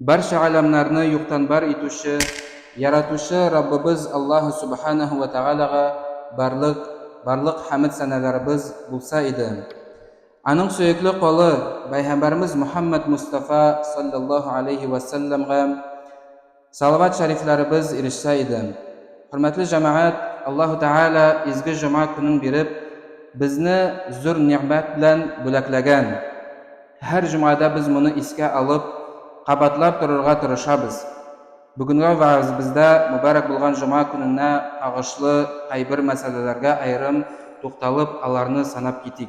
Барча галәмнәрне юктан бар итүче, Яратучы Раббыбыз Аллаһ Сүбхәнәһү вә Тәгаләгә барлык, барлык хәмед-сәнәләребез булса иде! Аның сөекле колы, Бәйһамбарыбыз Мөхәммәд Мостафа салләллаһу галәйһи вә сәлләмгә, Салават шәрифләребез ирешсә иде. Хөрмәтле җәмәгать, Аллаһу Тәгалә изге җома көнен биреп, безне зур нигъмәт белән бүләкләгән. Һәр җомгада без моны искә алып, кабатлап торырга тырышабыз. Бүгенге вәгазебездә мөбарәк булган җома көненә кагышлы кайбер мәсьәләләргә аерым тукталып, аларны санап китик.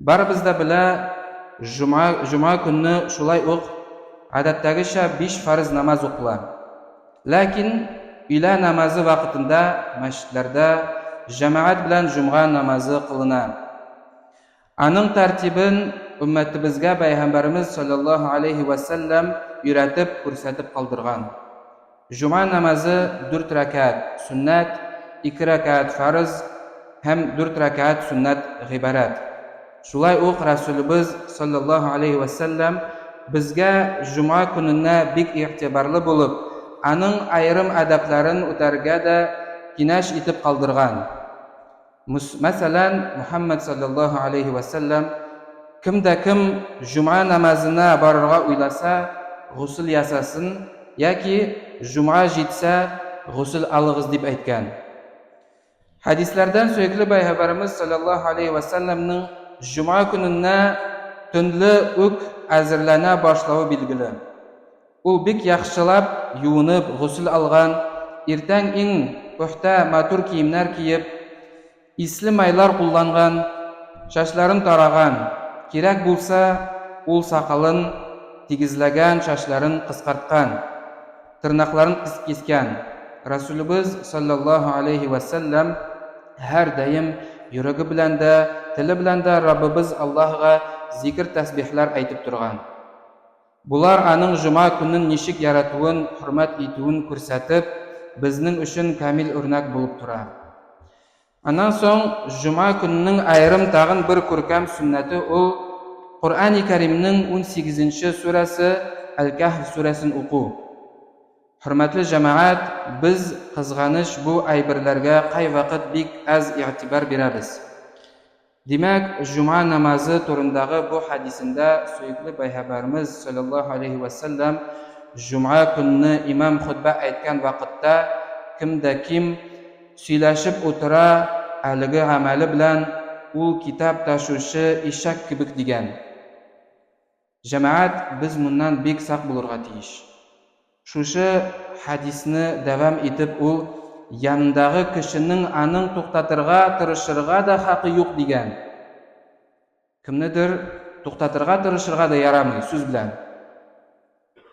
Барыбыз да белә, җома, җома көнне шулай ук гадәттәгечә биш фарыз намаз укыла. Ләкин өйлә намазы вакытында мәчетләрдә җәмәгать белән җомга намазы кылына. Аның тәртибен өммәтебезгә Пәйгамбәребез салләллаһу алейһи вә сәлләм өйрәтеп, күрсәтеп калдырган. Җомга намазы дүрт рәкәәт, сөннәт, ике рәкәәт, фарыз, һәм дүрт рәкәәт, сөннәт, гыйбарәт. Шулай ук Рәсүлебез, салләллаһу алейһи вә сәлләм, безгә җомга көненә бик игътибарлы булып, аның аерым адәпләрен үтәргә дә кинәш итеп калдырган. Мәсәлән, Мөхәммәд салләллаһу алейһи вә сәлләм, Кем дә кем җомга намазына барырга уйласа, госел ясасын, яки җомга җитсә, госел алыгыз, дип әйткән. Хәдисләрдән сөекле Пәйгамбәребез салләллаһу алейһи вә сәлләмнең җомга көненә төнле үк әзерләнә башлавы билгеле. Ул бик яхшылап юынып, госел алган, иртән иң пөхтә, матур киемнәр киеп, исле майлар кулланган, чәчләрен тараган, кирәк булса, ул сакалын тигезләгән, чәчләрен кыскарткан, тырнакларын кискән. Рәсүлебез, салләллаһу алейһи вә сәлләм, һәрдаим йөрәге белән дә, теле белән дә Раббыбыз Аллаһыга зикер-тәсбихләр әйтеп торган. Болар аның җома көнен ничек яратуын, хөрмәт итүен күрсәтеп, безнең өчен камил үрнәк булып тора. Аннан соң җома көненең аерым тагын бер күркәм сөннәте ул, Коръәни Кәримнең унсигезенче сүрәсе Әл-Кәһф сүрәсен уку. Хөрмәтле җәмәгать, без, кызганыч, бу әйберләргә кайвакыт бик әз игътибар бирәбез. Димәк, җомга намазы турындагы бу хәдисендә сөекле Пәйгабәрмез, салләллаһу алейһи вә сәлләм, җомга көнне имам хотбә әйткән вакытта, кем дә ким, сөйләшеп утыра, әлеге гамәле белән ул китап ташучы ишәк кебек дигән. Җәмәгать, без моннан бик сак булырга тиеш. Шушы хәдисне дәвам итеп ул, Янындагы кешенең аның туктатырга тырышырга да хакы юк, дигән. Кемнедер туктатырга тырышырга да ярамый, сүз белән.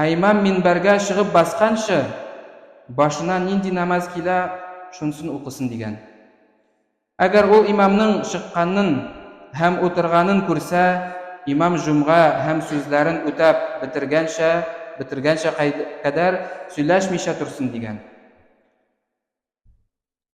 Ә имам минбәргә чыгып басканчы, башына нинди намаз килә, шунсын укысын, дигән. Әгәр ул имамның чыкканын һәм утырганын күрсә, имам җомга һәм сүзләрен үтәп бетергәнчә, бетергәнчә кадәр сөйләшмичә торсын, дигән.